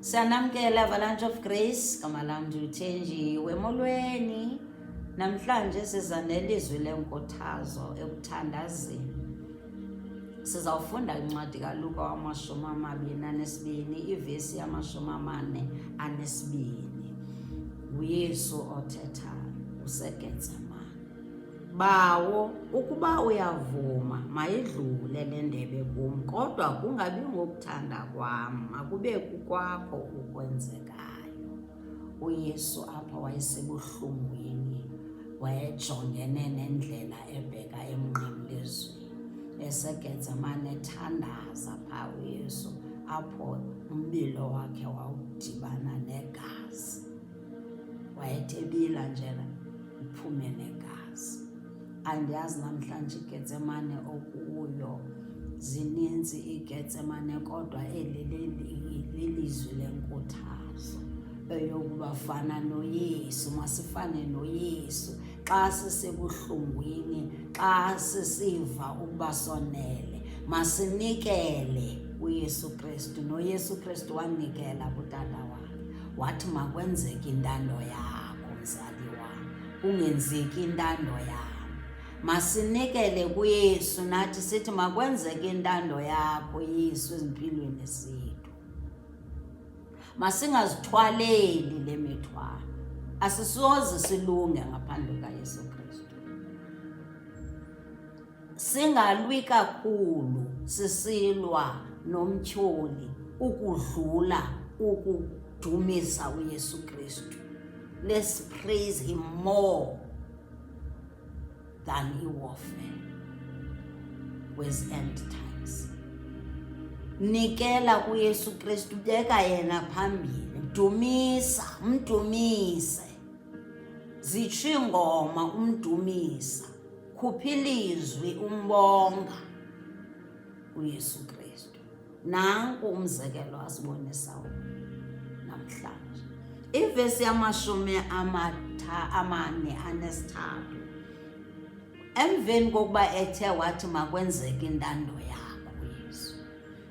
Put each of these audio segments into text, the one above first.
Siyanamkela Avalanche of Grace, gama lam ndiluthenjiwe emolweni. Namhlanje siza nelizwi lenkuthazo ekuthandazeni. Sizawufunda incwadi kaLuka wamashumi amabini anesibini, ivesi yamashumi amane anesibini. UYesu othethayo useGetsemane. Bawo, ukuba uyavuma, mayidlule le ndebe kum, kodwa kungabi ngokuthanda kwam, makube kukwakho ukwenzekayo. UYesu apha wayesebuhlungwini, wayejongene nendlela ebheka emnqamlezweni, eseGetsemane ethandaza pha uYesu, apho umbilo wakhe wawudibana negazi. wayethebila njela iphume negazi andiyazi namhlanje igetsemane okuyo zininzi igetsemane kodwa eli lilizwi lenkuthazo eyokuba fana noyesu masifane noyesu xa sisebuhlungwini xa sisiva ukuba sonele masinikele uyesu kristu noyesu kristu wanikela kutata wakhe wathi makwenzeke intando yakho mzali wam kungenzeki intando yam masinikele kuyesu nathi sithi makwenzeke intando yakho yesu ezimpilweni zethu masingazithwaleli le mithwalo asisoze silunge ngaphandle kayesu Singalwi kakhulu sisilwa nomtyholi ukudlula ukudumisa uYesu Kristu. Let's praise him more than iwarfare with end times. Nikela kuYesu Kristu, beka yena phambili, mdumisa, mdumise. Zitsho iingoma umdumisa. khupha ilizwi umbonga uYesu Kristu. Nanku umzekelo asibonisa namhlanje. Ivesi yamashumi amatha amane anesithathu. Emveni kokuba ethe wathi makwenzeke intando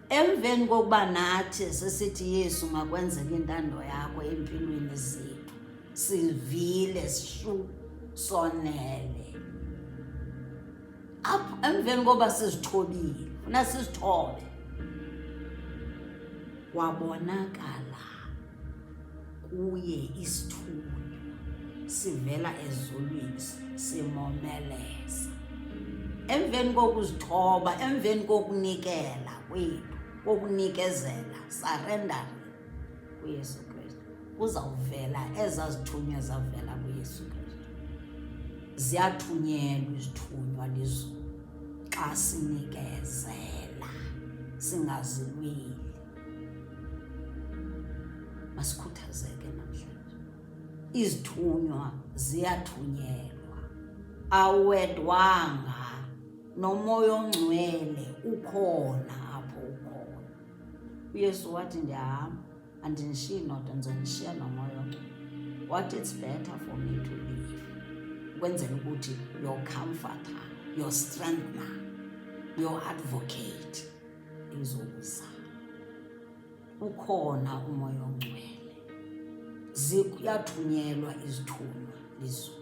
Emveni kokuba nathi sisithi Yesu makwenzeke intando yakho empilweni zethu sivile sishu sonele apho emveni kokuba sizithobile funa sizithobe wabonakala kuye isithunywa sivela ezulwini simomeleza emveni kokuzithoba emveni kokunikela kwethu kokunikezela surrendering kuyesu kristu kuzawuvela ezazithunywa zavela kuyesu kristu ziyathunyelwa izithunywa lizulu xa sinikezela singazilweli Masikhuthazeke namhlanje, izithunywa ziyathunyelwa, awedwanga nomoya ongcwele ukhona apho ukhona. UYesu wathi ndiyahamba, andinishiyi nodwa, ndizonishiya nomoya ongcwele. What is better for me to live ukwenzela ukuthi your comforter your strengthener your advocate izokuza ukhona umoya ongcwele ziyathunyelwa izithunywa lizo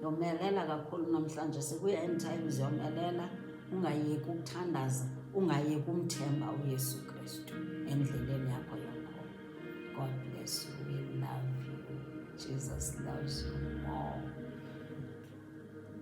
yomelela kakhulu namhlanje sikuya end times yomelela ungayeki ukuthandaza ungayeki umthemba uyesu kristu endleleni yakho yokho god bless you we love you jesus loves you more